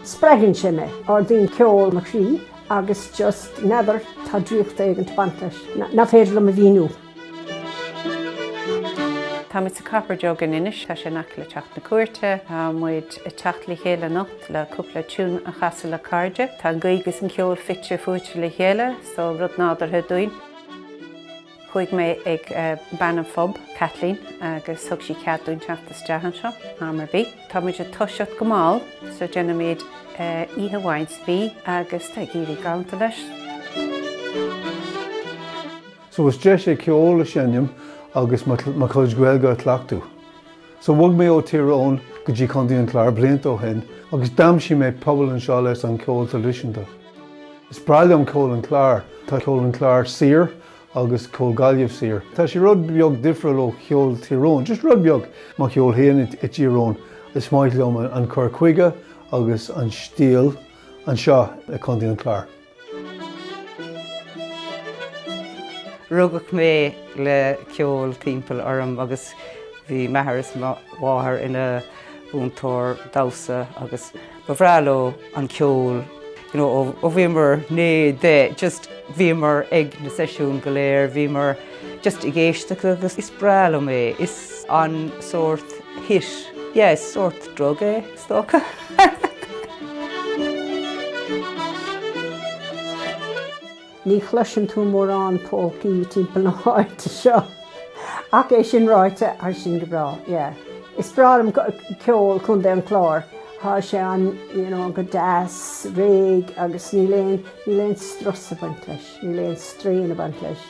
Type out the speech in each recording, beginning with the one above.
Spreagann sé mé. Ardaíonn ceol mo chroí agus just, n'fheadar, tá draíocht éigin ag baint leis nach féidir liom a mhíniú. Táimid sa Copper Jug in Inis, tá sé in aice le Teach na Cúirte. Tá muid ag teacht le chéile anocht le cúpla tune a chasadh le cairde. Tá an Ghaeilge is an ceol fite fuaite le chéile, so rud nádúrtha dúinn. Chuaigh mé ag bean an phub, Kathleen, agus thug sí cead dúinn teacht isteach anseo am ar bith. Tá muid ag toiseacht go mall so déanaimid oíche amháin sa mhí agus tá ag éirí galánta leis. So is deis é ceol a sheinm agus mo chuid Gaeilge a chleachtadh. So bhog mé ó Tír Eoghain go dtí Contae an Chláir blianta ó shin agus d'aimsigh mé pobal anseo leis an ceol traidisiúnta. Is breá liom ceol an Chláir, tá ceol an Chláir saor agus ceol Gaillimh saor. Tá sé rud beag difriúil ó cheol Thír Eoghain, just rud beag. Mo cheol féin i dTír Eoghain, is maith liom an cur chuige agus an stíl anseo i Contae an Chláir. Rugadh mé le ceol timpeall orm agus bhí m'athair is mo mháthair ina múinteoir damhsa agus ba bhreá leo an ceol. You know ó bhíomar naoi, deich just bhíomar ag na seisiúin go léir, bhíomar just ag éisteacht agus is breá liom é. Is an sórt hit, yeah, is sórt drug é. Is dócha. Ní chloiseann tú mórán polcaí timpeall na háite seo. Ach é sin ráite, tá sin go breá, yeah. Is breá liom ceol Chontae an Chláir. Tá sé an, you know, go deas, réidh agus níl aon, níl aon strus ag baint leis. Níl aon straidhn ag baint leis.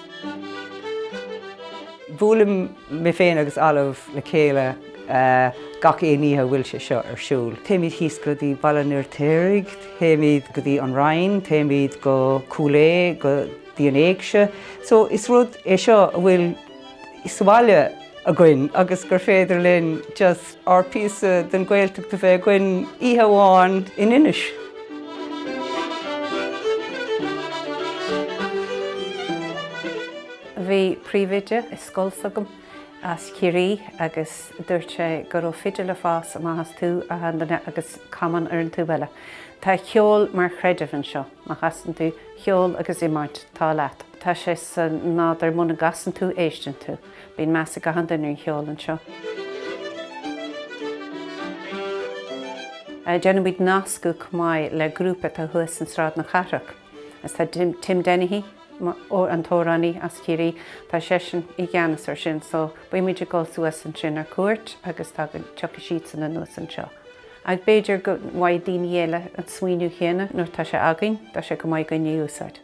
Buailim mé féin agus Olive le chéile gach aon oíche a bhfuil sé seo ar siúl. Téimid thíos go dtí Baile an Fheirtéaraigh, téimid go dtí An Rinn, téimid go Cúil Aodha, go dtí an Éigse. So is rud é seo a bhfuil. sa bhaile againn agus gur féidir linn just ár píosa den Gaeltacht a bheith againn oíche amháin in Inis. Bhí príomhoide i scoil s'agam as Ciarraí agus dúirt sé go raibh fidil ag fás amach as taobh amháin duine agus camán ar an taobh eile. Tá ceol mar chreideamh anseo. Má chasann tú cheol agus iomáint, tá leat. Tá sé sa nádúr muna gcasann tú, éisteann tú. Bíonn meas ag achan duine ar an cheol anseo. Déanaimid nascadh chomh maith le grúpa atá thuas in Sráid na Cathrach. Is tá Tim Dennehy, an t-amhránaí as Ciarraí, tá seisean i gceannas ar sin so bímid ag dul suas ansin ar cuairt agus tá go, tiocfaidh siadsan anuas anseo. Ach b'fhéidir go bhfaighidh daoine eile an smaoineamh chéanna nuair tá sé againn, tá sé chomh maith againn é a úsáid.